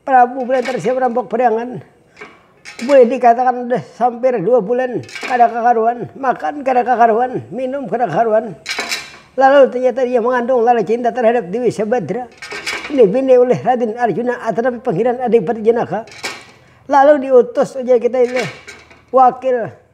Prabu Belantar sia merampok padangan, bulih dikatakan udah sampir dua bulan kada kakaruan, makan kada kakaruan, minum kada kakaruan. Lalu ternyata ia mengandung lala cinta terhadap Dewi Sabadra, ini bini ulih Raden Arjuna atanapi Pangeran Adipati Janaka. Lalu diutus ujar kita ini wakil.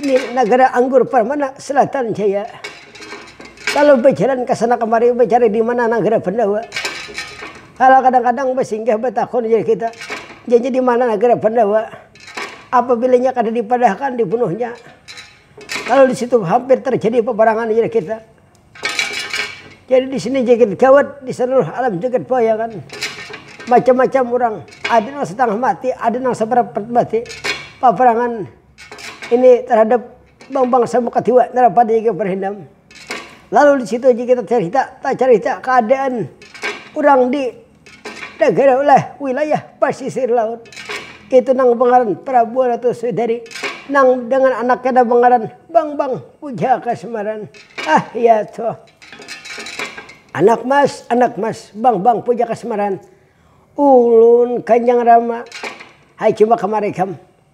Di nagara anggur permana selatan jaya. Lalu bejalan kesana kemari mencari di mana nagara pandawa. Kala kadang kadang besinggah betakun jar kita, nya nya di mana nagara pandawa. Apabila nya kada dipadahakan dibunuhnya. Lalu di situ hampir terjadi peperangan jar kita. Jadi di sini jagat gawat di seluruh alam jagat bayangan macam-macam orang ada nang setengah mati ada nang saparapat mati paparangan ini terhadap bang bangsa muka tiwa nara pada jaga berendam lalu di situ aja kita carita tacarita keadaan urang di. Nagara ulah wilayah pasisir laut itu nang bangaran Prabu Ratu Sudari nang dengan anaknya nang bangaran Bangbang Puja Kasmaran. Ah iya toh. Anak mas, anak mas, Bangbang Puja Kasmaran. Ulun Kanjang Rama, hai coba kamari kam.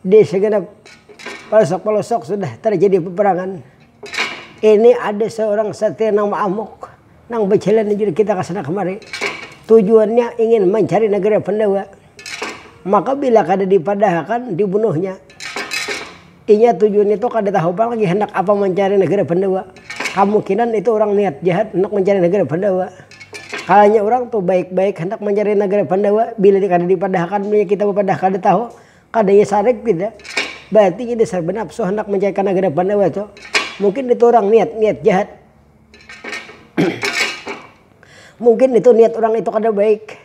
Di segenap palosok-palosok sudah tarjadi paparangan. Ini ada seorang satria nang ma'amuk nang bajalan ninjur kita ka sana kamari. Tujuannya ingin mancari nagara Pandawa. Maka bila kada dipadahakan, dibunuhnya. Inya tujuan itu kada tahu pang lagi handak apa mancari nagara Pandawa. Kamungkinan itu urang niat jahat handak mancari nagara Pandawa. Kalanya urang tu baik-baik handak mancari nagara Pandawa, bila kada dipadahakan, bila kita bapadah kada tahu. Kada iya sarik pina, bararti inya dasar banapsu handak mancari kanagaran Pandawa tu. Mungkin nitu urang niat, niat jahat. Mungkin nitu niat urang itu kada baik.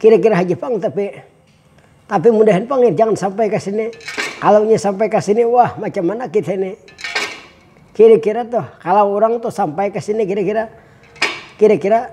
Kira-kira haja pang tapi. Tapi mudahan pang nih jangan sampai ka sini. Kalau inya sampai ka sini, wah macam mana kita nih. Kira-kira tuh, kalau urang tuh sampai ka sini kira-kira, kira-kira.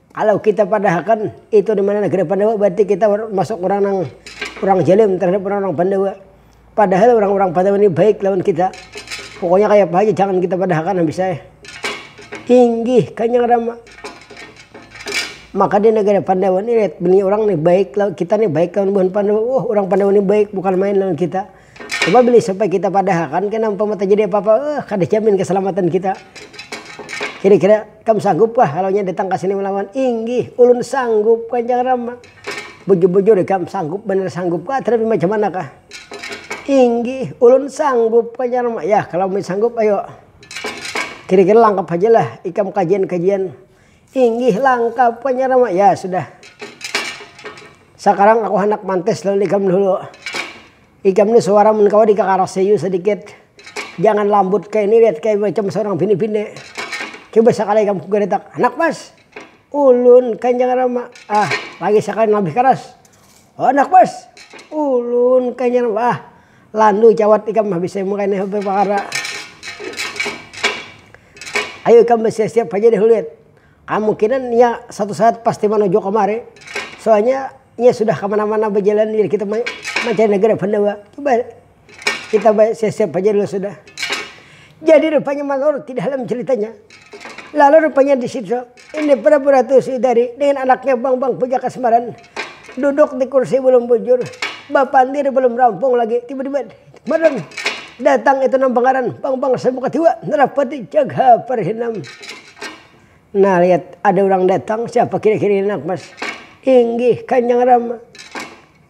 Kalau kita padahakan itu dimana negara pandawa berarti kita masuk orang nang orang jalim terhadap orang orang pandawa padahal orang orang pandawa ini baik lawan kita pokoknya kaya apa haja jangan kita padahakan habis ai inggih kanyang rama maka di negara pandawa ni lihat bini orang ni baik lawan kita ni baik lawan buhan pandawa oh orang pandawa ni baik bukan main lawan kita. Coba beli sampai kita padahakan kena umpama terjadi apa-apa eh kada jamin keselamatan kita. Kira-kira kam sanggupkah kalau inya datang ka sini melawan? Inggih, ulun sanggup, kancang Rama. Bujur-bujur ikam, sanggup banar sanggupkah atarapi macam manakah? Inggih, ulun sanggup, kancang Rama. Yah, kalau umai sanggup ayo. Kira-kira langkap hajalah ikam kajian-kajian. Inggih langkap punya rama ya sudah sakarang aku handak mantes lawan ikam dahulu ikam ni suara mun kawa dikakarasi yu sadikit jangan lambut kaya ini lihat kaya macam seorang bini bini coba sakali ikam kugaratak handak mas ulun kanjang rama ah lagi sakali labih karas. Handak bus. Ulun kanyar bah. Landu cawat ikam habis saya mengkena hp pakara. Ayu ikam bersiap-siap haja deh Hulit. Kamungkinan nya satu saat pasti manuju kamari. Soalnya nya sudah kamana-mana bajalan jadi kita mancari negara Pandawa. Coba. Kita baik siap-siap haja dulu sudah. Jadi rupanya malor ti dalam ceritanya. Lalu rupanya di situ ini Prabu Ratu Sidari dengan anaknya Bang-Bang Puja Kasmaran duduk di kursi belum bujur, bapandir belum rampung lagi, tiba-tiba malam datang itu nang pangaran Bang-Bang Sabu Katiwa Narapati Jagha Parhinam. Nah lihat ada orang datang siapa kira-kira ini nak mas? Inggih Kanjang Rama.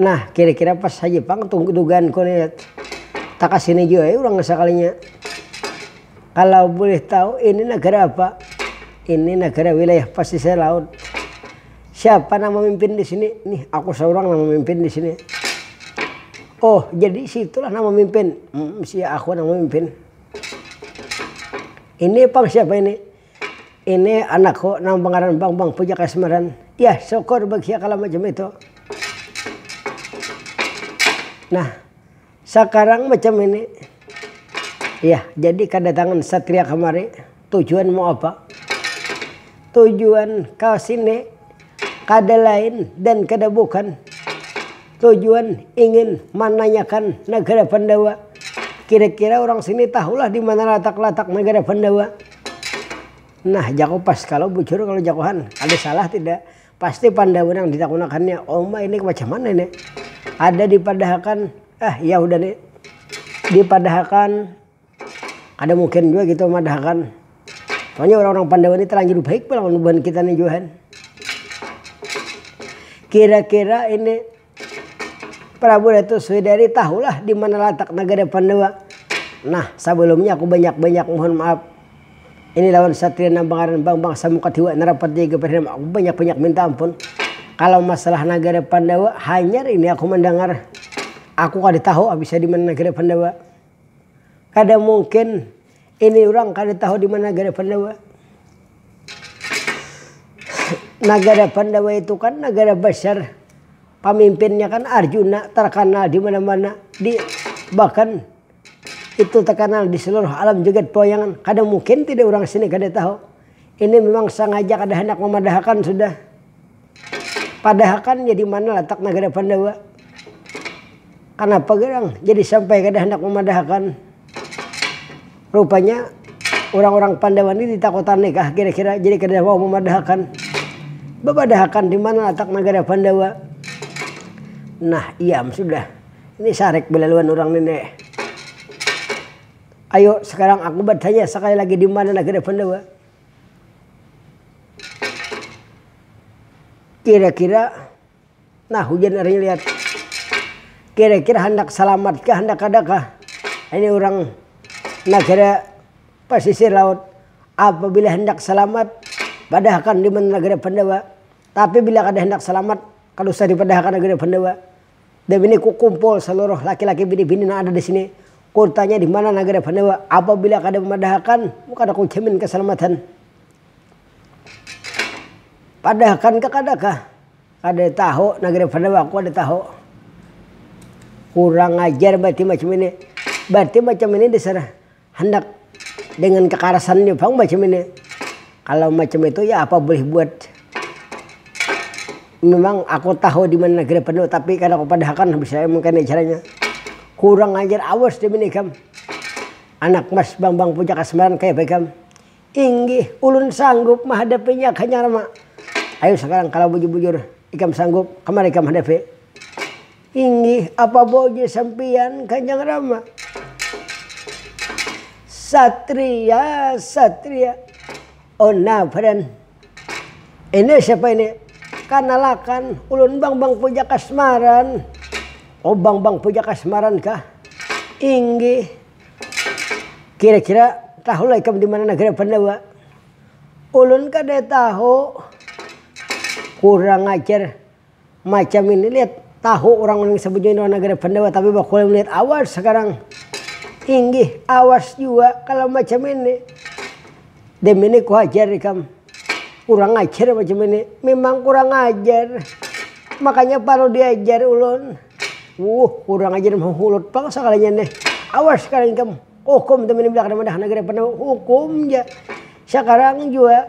Nah, kira-kira pas haja pang tu dugaanku nih. Takasini jua ai urang sakalinya. Kalau boleh tahu ini nagara apa? Ini nagara wilayah pasisir laut. Siapa nang mamimpin di sini? Nih, aku saurang nang mamimpin di sini. Oh, jadi situlah nang mamimpin? Sia aku nang mamimpin. Ini pang siapa ini? Ini anakku nang bangaran Bang, Bang Puja Kasmaran. Yah, syukur bagiya kalo macam itu. Nah, sakarang macam ini. Yah, jadi kadatangan satria kamari tujuan mau apa? Tujuan ka sini kada lain dan kada bukan tujuan ingin mananyakan nagara Pandawa. Kira-kira urang sini tahulah di mana latak-latak nagara Pandawa. Nah jaku pas kalo bujur kalo jakuhan ada salah tida pasti pandawa nang ditakunakannya oma ini macam mana ini ada dipadahakan ah iya hudah ni dipadahakan kada mungkin jua kita madahakan soalnya orang-orang pandawa ni terlanjur baik pulang lawan buhan kita ni jua han kira-kira ini. Prabu Datu Swidari tahulah di mana latak nagara Pandawa. Nah, sabalumnya aku banyak-banyak mohon maaf. Ini lawan satria nang bangaran Bambang Samukatiwa Narapati Jaga Perdana aku banyak-banyak minta ampun. Kalau masalah nagara Pandawa, hanyar ini aku mandangar. Aku kada tahu abisnya di mana nagara Pandawa. Kada mungkin ini urang kada tahu di mana nagara Pandawa. Nagara Pandawa itu kan nagara besar, pamimpinnya kan Arjuna terkenal di mana-mana, di bahkan itu terkenal di seluruh alam jagat pawayangan. Kada mungkin tidak urang sini kada tahu. Ini memang sengaja kada handak memadahakan sudah. Padahakan nya di mana latak nagara Pandawa? Kanapa gerang jadi sampai kada handak mamadahakan? Rupanya urang-urang Pandawa ni ditakutani kah kira-kira jadi kada mau mamadahakan? Bapadahakan di mana latak nagara Pandawa? Nah, iam sudah. Ini sarik belaluan urang ni ne. Ayo, sekarang aku batanya sekali lagi di mana nagara Pandawa? Kira-kira, nah hujan hari ini lihat. Kira-kira handak salamat kah handak kada kah ini urang nagara pasisir laut. Apabila handak salamat padahakan di mana nagara Pandawa, tapi bila kada handak salamat kada usah dipadahakan nagara Pandawa. Dabini kukumpul saluruh laki-laki bini-bini nang ada disini, kutanya dimana nagara Pandawa, apabila kada mamadahakan kada kujamin kasalamatan. Padahakan kah kada kah? Kada tahu nagara Pandawa aku kada tahu. Kurang ajar berarti macam ini. Berarti macam ini dasar. handak dengan kekarasannya pang macam ini. Kalau macam itu ya apa boleh buat. Memang aku tahu di mana negeri penuh tapi kada kupadahakan habis saya mengkena caranya. Kurang ajar awas deh mini ikam. Anak mas bambang puja kasmaran kaya apa ikam. Inggih ulun sanggup mahadapinya kanyar ma. Ayo sekarang kalau bujur-bujur ikam sanggup kemana ikam hadapi. Inggih, apa boja sampiyan Kanjang Rama? Satria, satria. Oh nah, friend. Ini siapa ini? Kanalakan, ulun Bambang Pujakasmaran. Oh, Bambang Pujakasmaran kah? Inggih. Kira-kira tahulah ikam di mana negara Pandawa? Ulun kada tahu. Kurang ajar. Macam ini lihat tahu orang yang sebujurnya orang negara pendawa tapi bakuliah melihat awas sekarang inggih awas jua kalau macam ini dem ini kuhajar ikam kurang ajar macam ini memang kurang ajar makanya parlu diajar ulun wuh kurang ajar mahulut pang sekalinya nih awas sekarang ikam hukum dem ini belakang madah negara pendawa hukum ja sekarang jua.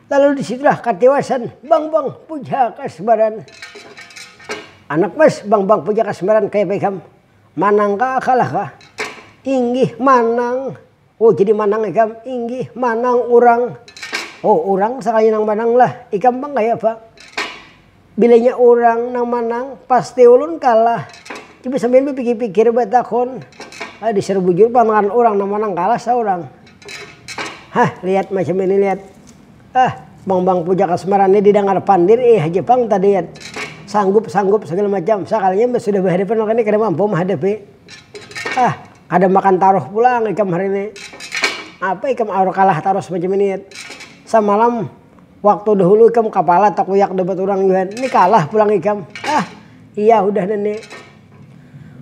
Lalu di situlah katiwasan Bangbang Pujaka Sembaran. Anak mas Bangbang Pujaka Sembaran kaya apa ikam? Manang kah kalah kah? Inggih manang. Oh jadi manang ikam? Inggih manang urang. Oh urang sakalinya nang manang lah. Ikam pang kaya apa? Bila inya urang nang manang, pasti ulun kalah. Coba sampiyan bapikir-pikir batakun, ah dasar bujur pantangan urang nang manang kalah saurang. Hah, lihat macam ini lihat. Ah, bang-bang puja kasmaran ni didangar pandir iya haja pang tadi lihat. Sanggup, sanggup sagala macam, sakalinya sudah bahadapan lawan ini kada mampu mahadapi. Ah, kada makan taruh pulang ikam hari ini. Apa ikam aur kalah tarus macam ini lihat. Samalam. Waktu dahulu ikam kapala takuyak dapat urang yuhan, ni kalah pulang ikam. Ah, iya hudah nene.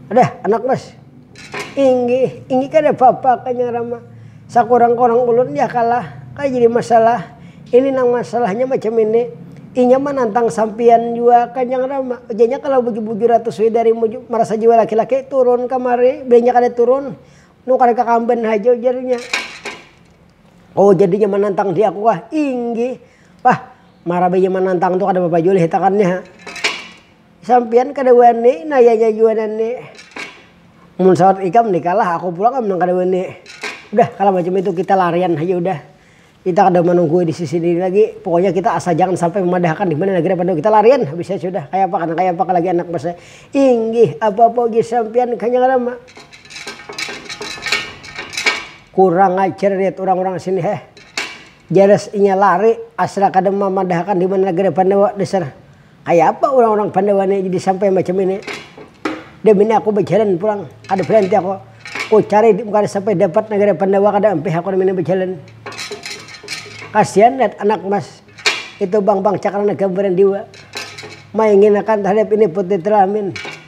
Hudah, anak mas. Inggih, inggih kada papa kanya rama. Sakurang-kurang ulun ya kalah, kada jadi masalah. Ini nang masalahnya macam ini, inya manantang sampiyan jua kanyang rama. Ujarnya kalau bujur-bujur Ratu Swidari marasa jiwa laki-laki, turun kamari. Bila inya kada turun, nukar ka kamban haja ujarnya. Oh jadinya manantang di aku kah? Inggih. Pah, marabainya manantang tu kada apa-apa jua lih hitakan nih ha. Sampiyan kada wani, nayanya jua nani. Mun sawat ikam ni kah lah, aku pulang am nang kada wani. Udah kalah macam itu kita larian haja udah. Kita kada manunggui di sisi ini lagi, pokoknya kita asal jangan sampai memadahkan di mana lagi dah pandu, kita larian habis nya sudah, kaya apa kada kaya apa lagi anak mas ai. Inggih, apa-apa ujar sampiyan kah nya kada ma. Kurang ajar lihat urang-urang sini heh. Jelas inya lari, asal kada mamadahakan di mana negara Pandawa. Dasar, kaya apa urang-urang Pandawa ni jadi sampai macam ini. Demi ni aku bajalan pulang, kada berhenti aku. Ku cari di kada sampai dapat negara Pandawa kada ampih aku demi ni bajalan. Kasihan lihat anak mas itu bang-bang cakrannya gambaran diwa. Mainginakan tahadap ini putri telamin.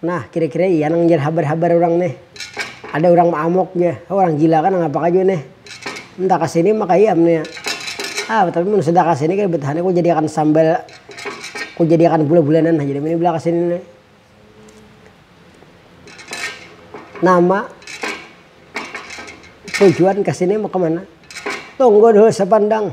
Nah, kira-kira iya nang jar habar-habar urang nih. Ada urang maamuk jar, heh urang gila kah nangapa kah jua nih. Minta ka sini maka iya am nih. Ah, tapi mun sudah ka sini kada batahan ku jadiakan sambal ku jadiakan bula-bulanan haja nih mun imbah ka sini nih. Nama tujuan ka sini mau ka mana? Tunggu dulu sapandang.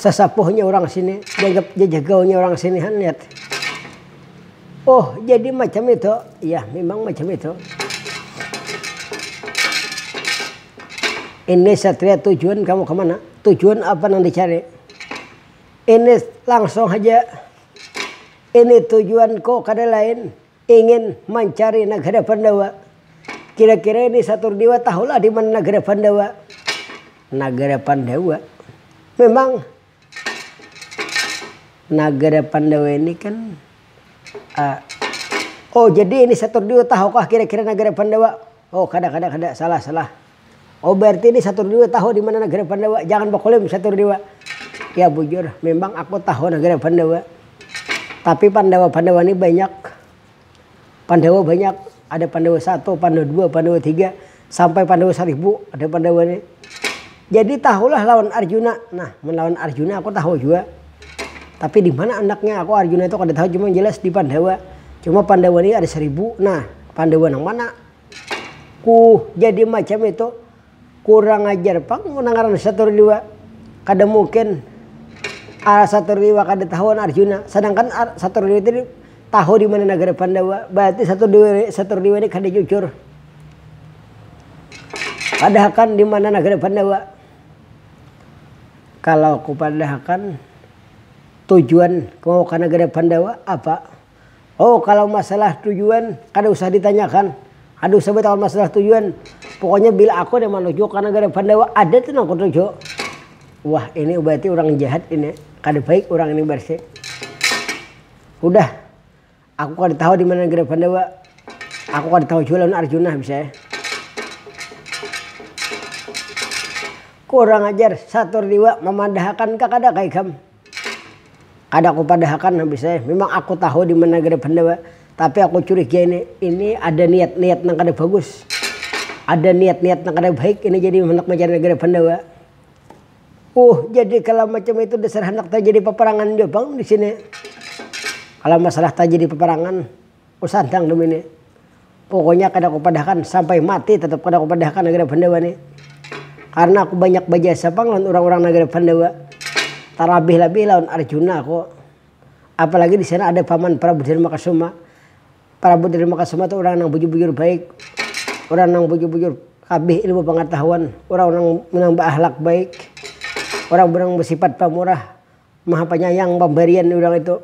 Sasapuhnya urang sini, dianggap jajagaunya urang sini han lihat. Oh, jadi macam itu. Ya, memang macam itu. Ini satria tujuan kamu kemana? Tujuan apa yang dicari? Ini langsung saja. Ini tujuanku kada lain. Ingin mancari nagara Pandawa. Kira-kira ini satur diwa tahulah di mana nagara Pandawa. Nagara Pandawa memang nagara Pandawa ini kan oh jadi ini satur diwa tahukah kira-kira nagara Pandawa. Oh kada kada kada salah salah. Oh berarti ini satur dewa tahu dimana negara pandawa jangan baklaim satur dewa ya bujur memang aku tahu negara pandawa tapi pandawa pandawa ni banyak pandawa banyak ada pandawa satu pandawa dua pandawa tiga sampai pandawa saribu ada pandawa ni jadi tahulah lawan arjuna nah mun lawan arjuna aku tahu jua tapi dimana andaknya aku arjuna tu kada tahu cuma jelas di pandawa cuma pandawa ni ada saribu nah pandawa nang mana. Ku jadi macam itu. Kurang ajar pang mun ngaran Saturdiwa kada mungkin Saturdiwa kada tahu lawan Arjuna. Sadangkan Saturdiwa tadi tahu di mana nagara Pandawa. Berarti Saturdiwa ini kada jujur. Padahakan di mana nagara Pandawa. Kalau ku padahakan tujuan mau ke nagara Pandawa apa. Oh kalau masalah tujuan kada usah ditanyakan, kada usah batawa masalah tujuan, pokoknya bila aku ada manuju ka nagara Pandawa ada tu nang kutuju. Wah ini berarti urang jahat ini, kada baik urang ini berarti. Hudah, aku kada tahu di mana nagara Pandawa, aku kada tahu jua lawan Arjuna habis saya. Kurang ajar, satur liwa mamandahakan ka kada ka ikam. Kada kupadahakan habis ai. Mimang aku tahu di mana gada pandawa, tapi aku curiga ini ini ada niat-niat nang kada bagus. Ada niat-niat nang kada baik ini jadi handak mancari nagara pandawa. Uh jadi kalau macam itu dasar handak terjadi peperangan jua pang di sini. Kalau masalah terjadi peperangan. Ku santang demi ni. Pokoknya kada ku padahkan sampai mati tetap kada ku padahkan nagara Pandawa ni. Karena aku banyak bajasa pang lawan urang-urang nagara Pandawa. Talabih-labih lawan Arjuna ko. Apalagi di sana ada Paman Prabu Darmakasoma. Prabu Darmakasoma tu urang nang bujur-bujur baik. Urang nang bujur-bujur kabih ilmu pangatahuan. Urang nang baahlak baik. Urang nang basipat pamurah. Maha panyayang pambarian urang itu.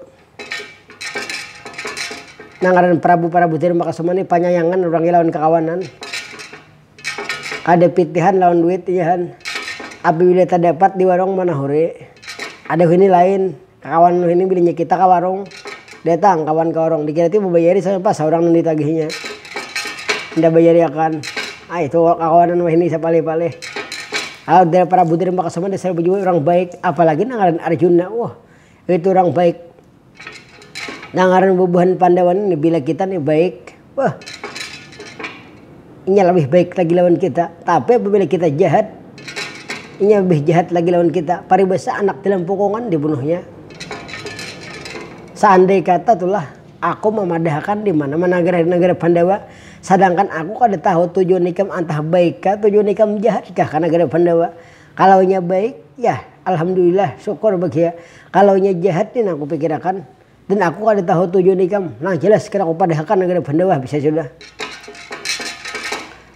Nang ngaran parabu-parabu Tiru Makasuma ni panyayangan urangnya lawan kakawanan. Kada pitihan lawan duit inya han. Apabila tadapat di warung manahuri, ada wahini lain, kakawanan wahini bilinya kita ka warung. Datang kawan ka warung, dikira ti babayari saurang, pas saurang nang ditagihinya inda bayari akan, ai tu kakawanan wahini sapalih-palih. Alah udah para budir maka suman dasar bajua urang baik, apalagi nang ngaran Arjuna, wah itu urang baik. Nang ngaran bubuhan Pandawa ni bila kita ni baik, Wah, inya labih baik lagi lawan kita. Tapi apabila kita jahat, inya labih jahat lagi lawan kita. Paribasa anak dalam pukungan dibunuhnya. Saandai kata tulah aku mamadahakan di mana-mana nagara di nagara Pandawa, sadangkan aku kada tahu tujuan ikam antah baik kah tujuan ikam jahat kah ka nagara Pandawa. Kalau inya baik, yah alhamdulillah syukur bagiya. Kalau inya jahat, pina kupikirakan. Dan aku kada tahu tujuan ikam. Nah jelas kena kupadahakan nang kada bahandap ah bisa sudah.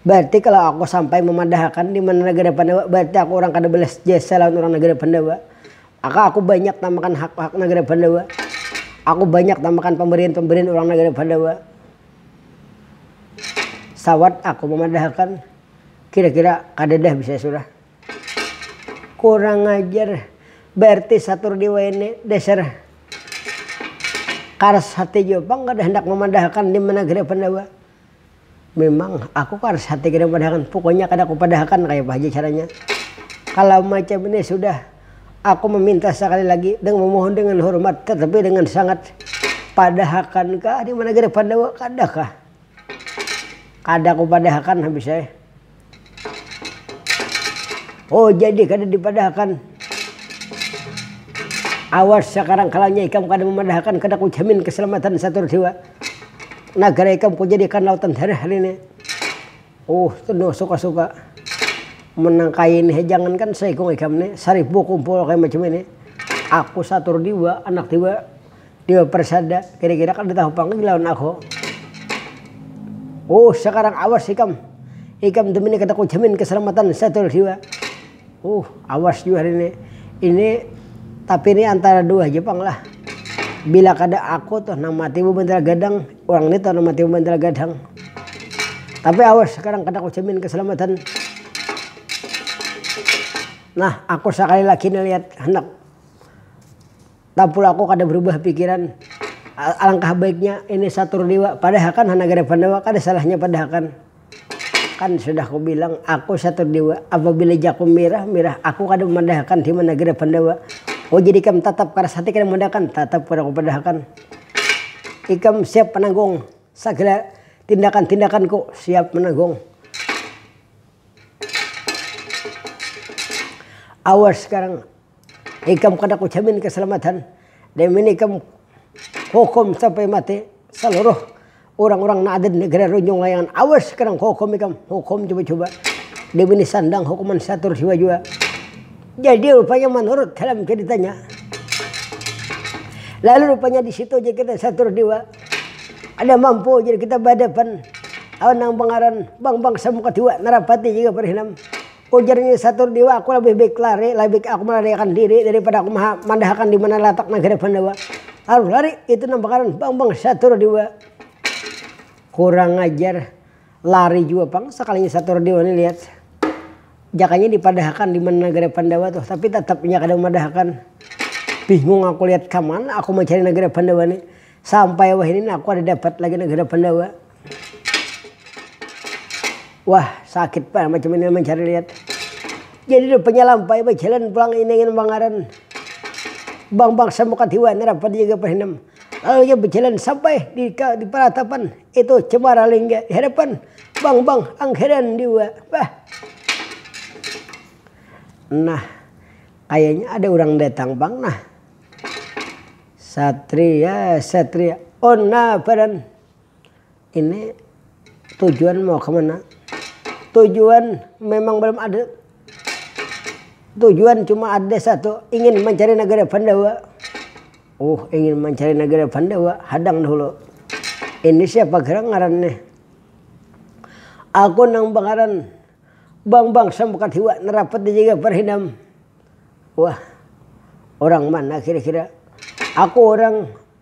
Bararti kalau aku sampai mamadahakan dimana nagara pandawa bararti aku urang kada balas jasa lawan urang nagara pandawa. Maka aku banyak tamakan hak-hak nagara pandawa. Aku banyak tamakan pambarian-pambarian urang nagara pandawa. Sawat aku mamadahakan. Kira-kira kadada bisa sudah. Kurang ajar. Berarti satur di wayahini dasar karas hati jua pang kada handak mamadahakan di mana kira Pandawa. Mimang aku karas hati kada mamadahakan, pukuknya kada kupadahakan kayapa haja caranya. Kalau macam ini sudah, aku maminta sakali lagi dengan mamohon dengan hormat tatapi dengan sangat, padahakankah di mana kira Pandawa, kadakah. Kada kupadahakan habis ai. oh jadi kada dipadahakan awas sakarang kalanya ikam kada mamadahakan kada kujamin kasalamatan satur dewa nagara ikam kujadiakan lautan darah hari ini oh tenung suka suka menangkai ini jangankan saikung ikam ni saribu kumpul kaya macam ini aku satur dewa anak dewa. Iwa persada, kira-kira kada tahu pang lagi lawan aku. Huh, sakarang awas ikam. Ikam tu mini kada kujamin keselamatan satul siwa. Huh, awas jua hari ini. Ini tapi ini antara dua haja pang lah. Bila kada aku tuh nang mati babantal gadang, urang ni tuh nang mati babantal gadang. Tapi awas sakarang kada kujamin keselamatan. Nah, aku sakali lagi ni lihat handak. Tapulah aku kada berubah pikiran, alangkah baiknya ini satur liwa padahakan ha nagara Pandawa kada salahnya padahakan. Kan sudah kubilang aku satur liwa, apabila jaku mirah mirah aku kada mamadahakan hima nagara Pandawa. Oh jadi ikam tatap karas hati kada mamadahakan? Tatap kada kupadahakan. Ikam siap mananggung sagala tindakan-tindakanku? Siap mananggung. Awas sekarang. Ikam kada kujamin kasalamatan dan mun ikam hukum sampai mati saluruh urang-urang nang ada di negara Runjung Layangan awas kada kuhukum ikam, hukum cuba-cuba dan ini sandang hukuman satur siwa jua. Jadi rupanya manurut dalam caritanya lalu rupanya di situ aja kita satur diwa kada mampu jadi kita bahadapan lawan nang pangaran Bambang Samukadiwa Narapati jua Parhinam. Ujar Nyai Satur Diwa, aku labih baik lari, labih baik aku malariakan diri daripada aku mandahakan di mana latak nagara Pandawa. Taruh lari, itu nang bakanan bang-bang Satur Diwa. Kurang ajar, lari jua pang sakalinya Satur Diwa ni lihat. Jakanya dipadahakan di mana nagara Pandawa tuh, tapi tatap inya kada mamadahakan. Bingung aku lihat, kamana aku mancari nagara Pandawa ni. Sampai wahini ni aku kada dapat lagi nagara Pandawa. Wah, sakit pang macam ini mencari lihat. Jadi rupanya lampai bajalan pulang ini ingin mangaran. Bang Bang semuka tiwa nerapa dijaga perhinam. Lalu ia berjalan sampai di, di peratapan itu cemara lingga di hadapan Bang Bang angkeran diwa. Bah. Nah, kayaknya ada orang datang bang nah. Satria, Satria, Ona Paran. ini tujuan mau kemana tujuan memang belum ada tujuan cuma ada satu ingin mencari negara pandawa uh ingin mencari negara pandawa hadang dahulu ini siapa gerang ngaran nih aku nang bangaran bang bang sambukat hiwa narapat dijaga parhidam wah orang mana kira kira aku orang.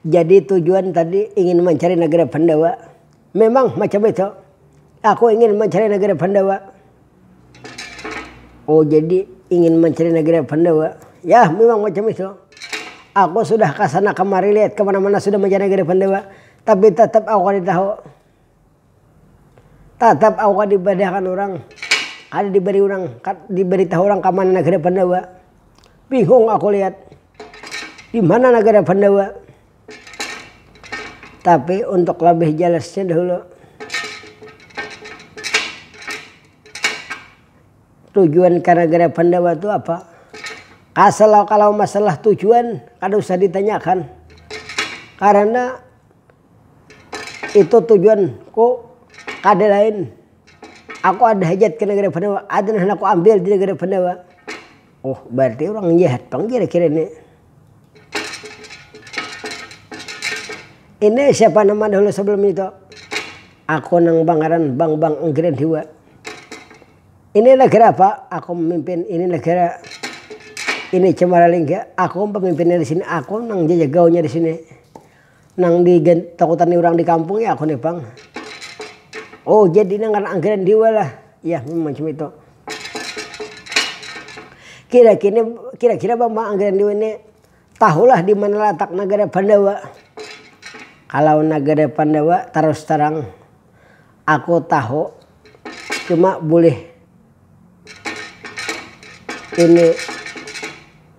Jadi tujuan tadi ingin mancari negara pandawa, memang macam itu aku ingin mancari negara pandawa. Oh jadi ingin mancari negara pandawa, yah memang macam itu aku sudah kasana kemari lihat kemana mana sudah mancari negara pandawa tapi tetap aku kada tahu. Tatap aku kada dibadahkan urang, kada dibari urang, kada dibaritahu urang ka mana nagara Pandawa. Bingung aku lihat, di mana nagara Pandawa. Tapi untuk labih jalasnya dahulu, tujuan ka nagara Pandawa tu apa. Asal kalau masalah tujuan kada usah ditanyakan karena. Itu tujuan ku kada lain aku ada hajat ke negara pendawa ada nang handak ku ambil di negara pendawa oh berarti orang jahat pang kira kira ni. Ini siapa nama dahulu sebelum itu aku nang bangaran bang bang enggiran hiwa ini negara apa aku memimpin ini negara ini cemara lingga aku pemimpinnya disini aku nang jajah gaulnya disini. Nang di takutan ni urang di kampung ya aku ni pang. Oh jadi nang ngaran angkringan diwa lah ya memang macam itu. Kira kini kira kira bang bang angkringan diwa ni tahu lah dimana latak nagara pandawa. Kalau nagara pandawa tarus terang aku tahu cuma bulih. Ini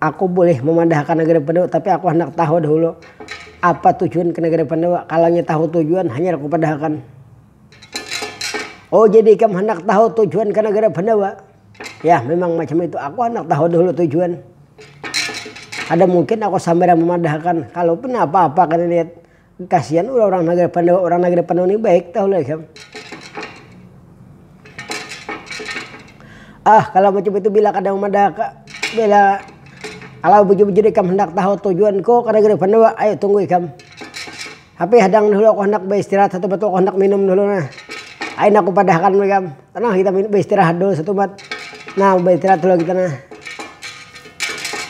aku bulih mamadahakan Nagari Pandawa, tapi aku handak tahu dahulu apa tujuan ke Nagari Pandawa. Kalanya tahu tujuan hanyar ku padahakan. Oh jadi ikam handak tahu tujuan ke Nagari Pandawa. Yah memang macam itu, aku handak tahu dahulu tujuan. Kada mungkin aku sambarang mamadahakan, kalaupun apa-apa kada lihat. Kasian ulah urang nagara Pandawa, urang nagara Pandawa ni baik tahu lah ikam. Ah kalau macam itu bila kada mamadah ka, bila kalau bujur-bujur ikam handak tahu tujuan ko ka nagara Pandawa, ayu tunggu ikam. Tapi hadang dahulu aku handak baistirahat satumat tu aku handak minum dahulu nah. Ayu nah ku padah akan ikam, tenang kita baistirahat dahulu satumat. Nah baistirahat dahulu kita nah.